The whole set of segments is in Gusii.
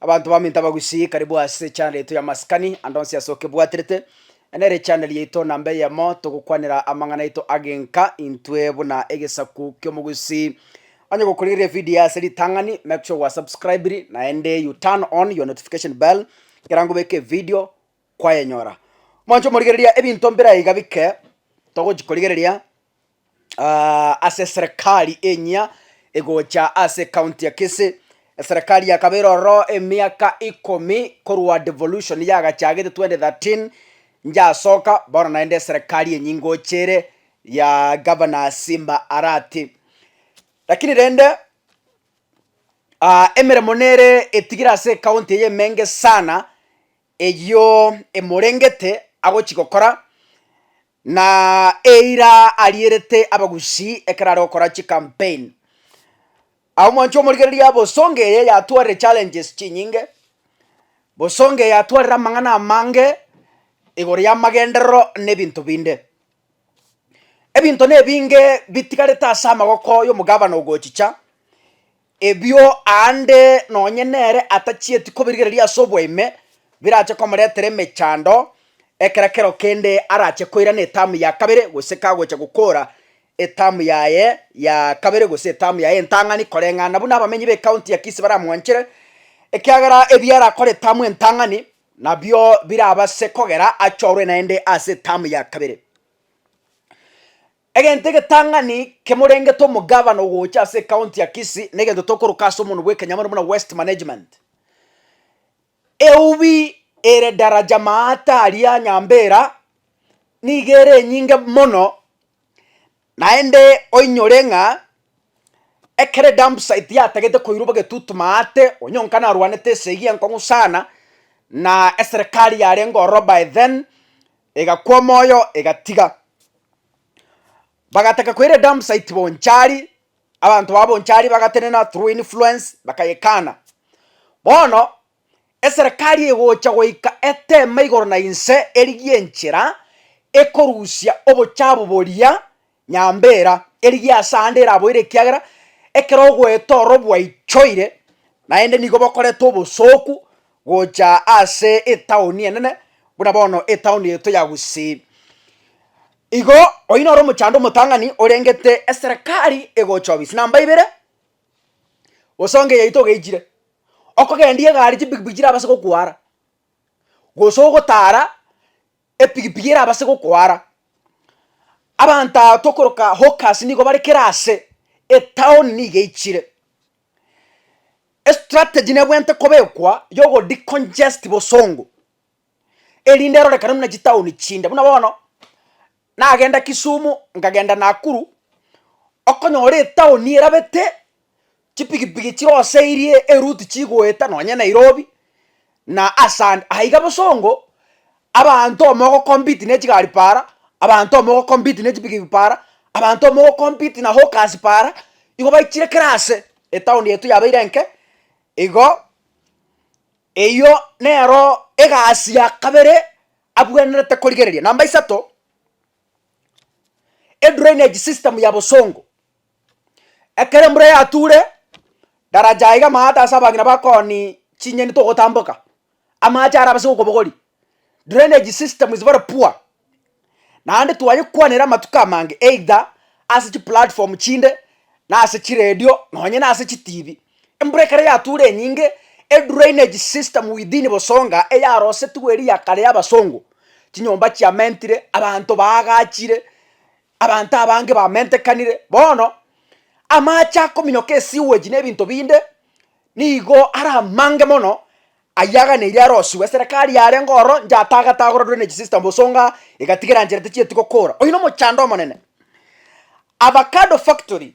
Abanto baminto abagusii karibu ase echanel yaito ya maskani ande onsi ase okebwaterete nere echanel yaito namba eyemo togokwanera amang'ana aito agenka intwe buna egesaku ki'omogusii. Onye gokorigereria evidio eye ase ritang'ani make sure gwa subscribiri naende you turn on your notification bell ekero ngobeka evidio kwayenyora. Mwanche omorigereria ebinto mbire aiga bike togochi korigereria aaah ase eserekari enyia egocha ase ekaunti ya kisii, eserekari yakabeire ororo emiaka ikomi korwa devolution yagachagete twenty thirteen yasoka bono naende eserekari enyia ngocha ere ya governor simba arati. Lakini rende emeremo nere etigire ase ekaunti eye emenge sana eyio emorengete agochia gokora, na eira arierete abagusii ekero are gokora chicampaign. Agwo mwancha omorigereria bosonge eye yatwarire challenges chinyinge, bosonge yatwarire amang'ana amange igoro yamagenderero na ebinto binde. Ebinto na ebinge bitigarete ase amagoko ya omogabana ogochicha. Ebio aande nonye nere atachieti kobirigereria ase oboime birache komoretera emechando ekero kero kende arache koirana etamu ya kabere gose kagocha gokora etamu yaye ya kabere gose etamu yaye entang'ani koreng'ana buna abamenyi b'ekaunti ya Kisii baramwanchere ekiagera ebi arakore etamu entang'ani nabio birabase kogera achorwe naende ase etamu ya kabere. Egento egetang'ani kemorengete omogavana ogocha ase ekaonti ya Kisii negento tokoroka ase omonwa bw'ekenyama ore buna Waste Management. Eubi ere daraja maata aria Nyambera nigo ere enyinge mono naende oinyore ng'a ekero edump site yatagete koirwa bagetutu maate onye onka narwanete esegi enkong'u sana na eserekari yarenge ororo by then Egakwa omoyo, egatiga. Bagataka koira Dampsite Bonchari, abanto ba Bonchari bagatenena through influence bakayekana. Bono eserekari egocha goika eteme igoro na inse erigie enchera ekorusia obochabu boria Nyambera, erigie ase aande eraboire ekiagera ekero ogoeta oro bwaichoire, naende nigo bokorete obosooku gocha ase etaoni enene, buna bono etaoni yaito ya Gusii. Igo, oyio noro omochando omotang'ani orengete eserekari egocha obisi. Namba ibere, osonge yaito ogeichire, okogendia egari chipikipiki chirabaase gokwara, gose ogotara Epigipigi erabe ase gokoara. Abanto okoroka hawkers nigo bare kera ase etown nigo eichire. Estrategy nebwenerete kobekwa ya ogo decongest bosongo erinde erorekane buna chitown chinde buna bono nagenda Kisumu nkagenda Nakuru okonyora etown erabete chipigipigi chiroseirie eruti chigoeta nonye Nairobi, na ase ande. Aiga bosongo, abanto omogo compete ne chigari para, abanto omogo compete ne chipigipigi para, abanto omogo compete na hawkers para, igo baichire kera ase, etown yaito yabeire enke, igo eyio nero egasi ya kabere abwenerete korigereria. Namba isato, edrainage system ya bosongo. Ekero embura yature, daraja aiga amaate ase abang'ina ba koni chinyeni togotamboka, amache arabe ase okobogori, drainage system is very poor, naende twayekwanera amatuko amange either ase chiplatform chinde, na ase chiredio, nonye na ase chitibi. Embura ekero yatura enyinge, edrainage system within Bosonga eyarosetigwe eria ya kare ya abasongo, chinyomba chiamentire, abanto baagachire, Abanto abange bamentekanire bono, amache akominyoka esiweji na ebinto binde nigo are amange mono ayio aganeirio arosigwe. Eserekari yarenge ororo inche atagete agora drainage system bosonga egatiga eranchera techieti gokora. Oyio nomochando omonene. Avacado factory.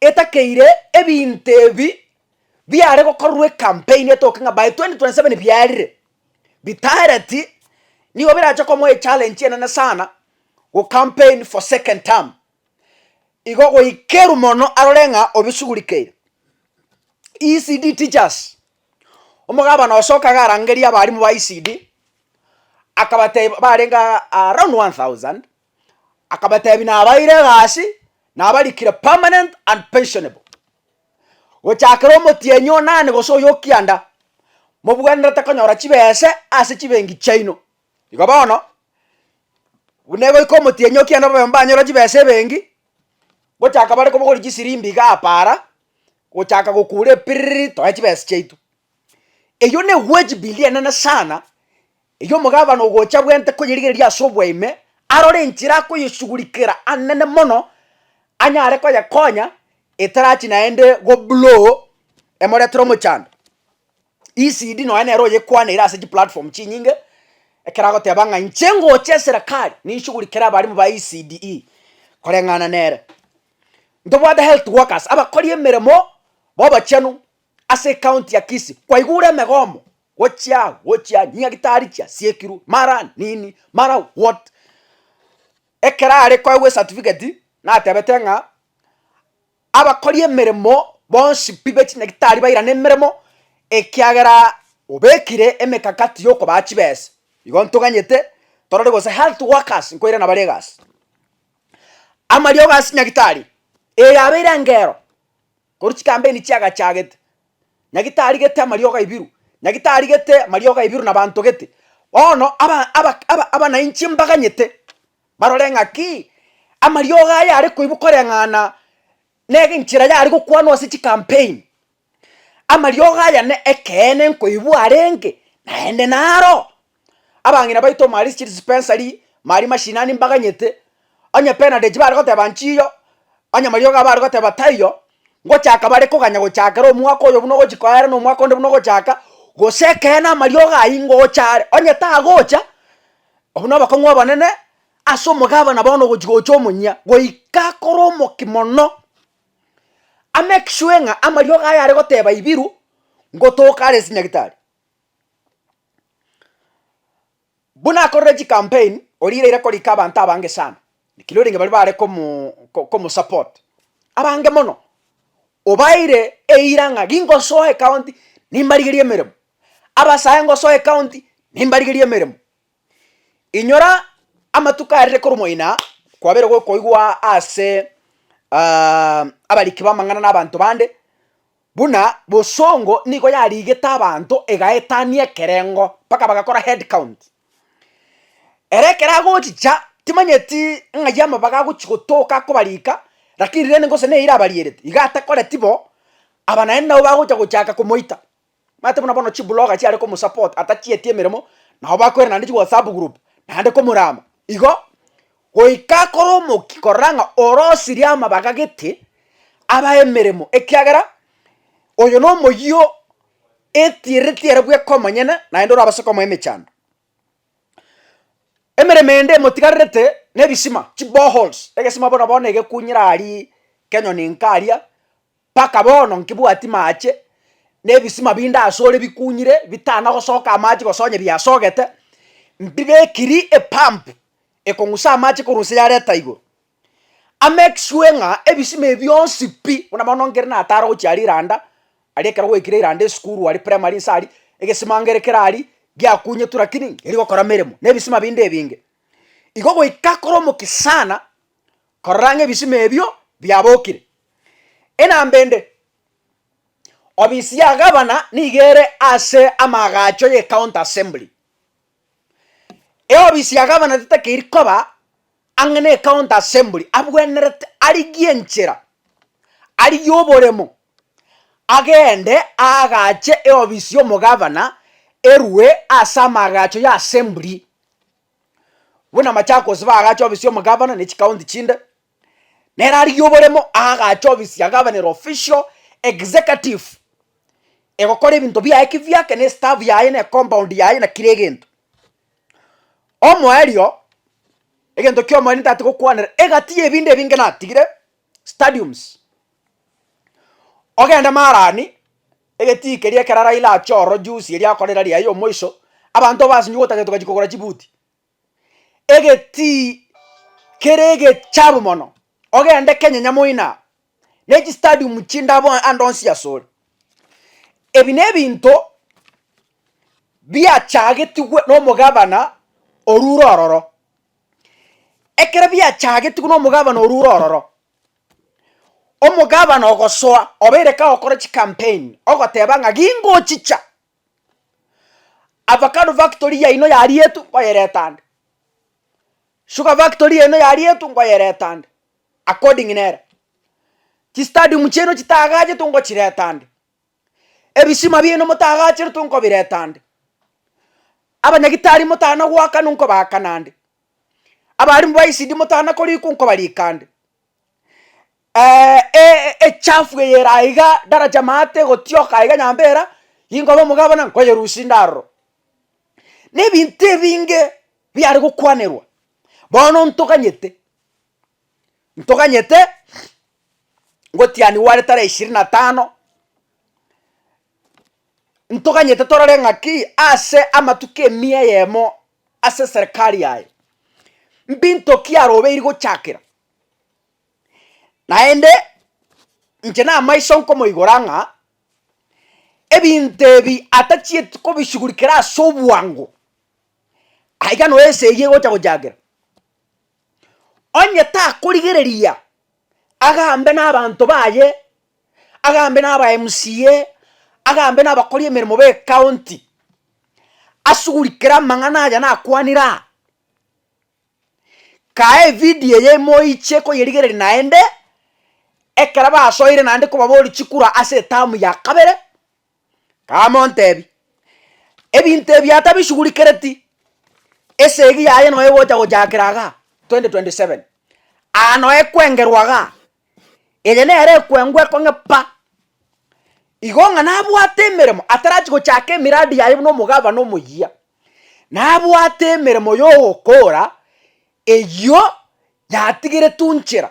etakeire ebinto ebi biare gokorwa ecampaign etoke ng'a by 2027 biarire, bitaareti nigo birache komoa echallenge enene sana gocampaign for second term, igo goikerwa mono arore ng'a obisugurikeire. ECD teachers, omogabana oso kagarangeria abarimu ba ECD akabateba barenge around one thousand, Akabatebia nabaeire egasi, nabarikire permanent and pensionable. Gochakera omotienyi onane gose oyo okianda, mobwenerete konyora chibese ase chibengi chiaino. Igo bono, buna egoika omotienyi okianda babe mbanyora chibesa ebengi, gochaka bare kobogori chisirimbi iga apa ara, gochaka gokura epiriri, toe chibesa chiaito. Eyio ne ewage bill enene sana, Erio omogabana ogocha bw'ente koyerigereria ase obwaime, arore enchera akoyesugurikera anene mono anyare koyekonya etarachi naende goblow emoretere omochando. ECD nonye nere oyekwanaire ase chiplatform chinyinge, ekero agoteba ng'a inche ngocha eserekari ninsugurikere abarimu ba ECDE koreng'ana nere. Ntobwate health workers abakori emeremo bobochenu. Ase ekaonti ya Kisii kwaigure emegomo gochia aa gochia aa nyagitari chia siekirwe mara nini mara what ekero are koegwa esatifiketi natebete ng'a abakori emeremo bonsi pi bechinyagitari bairane emeremo ekiagera obekire emekakati yokobaa chibesa igo ntoganyete torore gose health workers nkoirana bare egasi. Amariogo ase nyagitari eyabeire engero. Korwa chikampeni chiagachagete, nyagi tarigete amariogo aibiru, nyagi tarigete amariogo aibiru na banto gete. Bono aba- aba- aba- abanainchi mbaganyete barore ng'aki amariogo aya are koibu koreng'ana nege enchera yare gokwanwa ase chikampeni. Amariogo aya ne ekeene nkoibu arenge, naende naro. Abang'ina baito Marie Chill Spencery, Marie Mashinani mbaganyete, onye Bernadette bare goteba nchiyo, onye mariogo abo are goteba taiyo, ngochaka bare koganya gochakera omwaka oyo buna ogochi koera na omwaka onde buna ogochaka, gose ekeene amariogo ayio ngocha are, onye tagocha, obwo na obokong'u obonene ase omogabana bono ogochi gocha omonyia, goika akore omoki mono, a make sure ng'a amariogo aye are goteba Ibiru, ngotoka are ase nyagitari. Buna akorire chicampaign, orire ere korika abanto abange sana, naki rorenge baria bare komo komosupport, abange mono obaeire eira ng'a gingosoa ecounty nimbarigerie emeremo, abasae ngosoa ecounty nimbarigerie emeremo. Inyora amatuko arire korwa moina kwabere gokoigwa ase abariki b'amang'ana na abanto bande, buna bosongo nigo yarigete abanto egaetania ekerengo mpaka bagakora head count. Ere ekero agochicha timanyeti ng'ai amabaga agochi gotoka akobarika lakini rende gose neye erabarierete iga atakoreti bo, aba naende nabo bagocha gochaka komoita. Manyete buna bono chibuloga chiare komosupport atachieti emeremo, nabo bakoira naende chiwhatsapp group naende komorama igo, goika akore omokia korora ng'a orosirie amabaga gete aba emeremo ekiagera oyo nomoyio etiereti ere bweka omonyene naende orabase komoa emechando. Emeremo ende emotigarerete na ebisima, chiboreholes, egesima bono bono egekunyire aria kenyoni nkaria, Mpaka bono nkebwati maache, na ebisima binde asore bikunyire, bitana gosoka amache gose onye biasogete, mbibekiri epump ekong'usa amache korwa inse yareta igoro. A make sure ng'a ebisima ebi bionsi pi, buna mono nkere natare gochia riranda, aria ekero gwaikire iranda esukuru aria primary inse aria, egesima nkere kere aria, giakunyetwe lakini nkeri gokora meremo, na ebisima binde ebinge. Igo goika kore omokisa sana, korora ng'a ebisima ebio biabokire. Enamba ende, ofisi ya gavana nigo ere ase amaagacho ye county assembly. Eofisi ya gavana tetakeiri koba ang'e ne county assembly abwenerete arigie enchera arigie oboremo agende aagache eofisi y'omogavana erwe ase amaagacho y'assembly. buna Machakos bagacha ofisi y'omogavana ne chikaonti chinde, nere arigia oboremo agacha ofisi ya gavana ere official executive egokora ebinto biaye ki biake ne staff yaye ne compound yaye na kira egento. Omoerio egento ki'omoerio ntatigokwanera egati y'ebinto ebinge natigire, stadiums, ogende marani egetii keria ekero Raila achia ororo juzi eria akore erari yaye yomoiso, abanto basinye ogotaka gento gachia kogora chibuti, egetii kere egechabu mono, ogende Kenya nyamoina ne chistadium chinde abo ande onsi asore. Ebi na ebinto biachagetigwe na omogabana orure ororo. Ekero biachagetigwe nomogabana orwo ore ororo, omogabana ogosoa obeire kagokora chikampeni ogoteba ng'a gingochicha avacado factory yaino yarietwe nkoyereta ande, sugar factory yaino yarietwe nkoyereta ande according nere, chistadium chiaino chitagachetwe nkochireta ande. Ebisima biaino motagacherete nkobireta nde, abanyagitari motana goakana nkobaakana nde, abarimu ba ECD motana korikwa nkobarika nde, echafu eye ere aiga daraja maate egotioka aiga nyambera, inkoba omogabo buna nkoyerusia inde aroro. Na ebinto ebinge biare gokwanerwa, bono ntoganyete ntoganyete ngotianigwe are tarehe ishirini na tano, ntoganyete torore ng'aki ase amatuko emiya eyemo ase eserekari yaye, mbinto ki arobeiri gochakera. Naende, inche namaiso nkomoigora ng'a ebinto ebi atachieti kobishugurikera ase obwango, aiga noyo esegi egocha gochakera. Onye takorigereria agambe nabanto baye, agambe naba MCA, agambe nabakori emeremo be county, asuguri kera amang'ana aya nakwanire aa, kae evidio eye moiche koyerigereria naende, ekero basoire naende kobaboria chikura ase etamu ya kabere, Kamontebie, Ebinto ebi atabishughulikereti, esegi yaye noyo egocha gochakera igaa, 2027, aa noyo ekwengerwa igaa, eye nere ekwengwa ekong'e pa, igo ng'a nabwate emeremo atarachi gochaka emiradi yaye buna omogabana omoyia, nabwate emeremo ya ogokora eyio yatigeretwe nchera.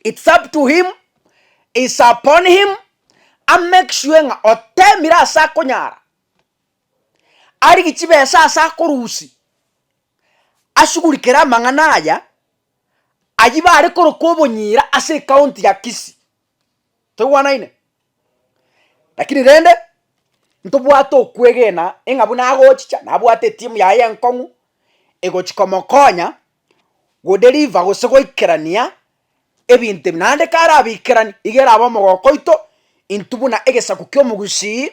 It's up to him, it's upon him, a make sure ng'a otemire ase akonyara, arigie chibesa ase akorusia, ashugurikere amang'ana aya, ayio bare koroka obonyira ase ecounty ya Kisii. Toigwanaine? Lakini rende, ntobwate okwegena ing'a buna agochicha nabwate etimu yaye enkong'u egochi komokonya go deliver gose goikerania ebinto ebi, naende kare abikerani iga erabe omogoko oito, intwe buna egesaku ki'omogusii,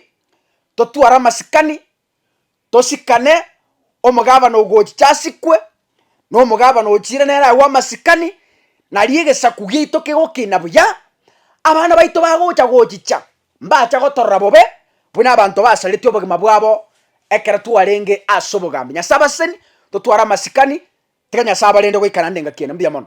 totware amasikani tosikane omogabane ogochicha asikwe, na omogabane ochiire nere agwo amasikani, nario egesaku giaito kegokina buya, abana baito bagocha gochicha mbacha gotorora bobe, buna abanto basareti obogima bwabo ekero twarenge ase obogambi. Nyasae abaseseni, totware amasikani, tiga Nyasae abarende goika naende engaki eye. Mbuya mono.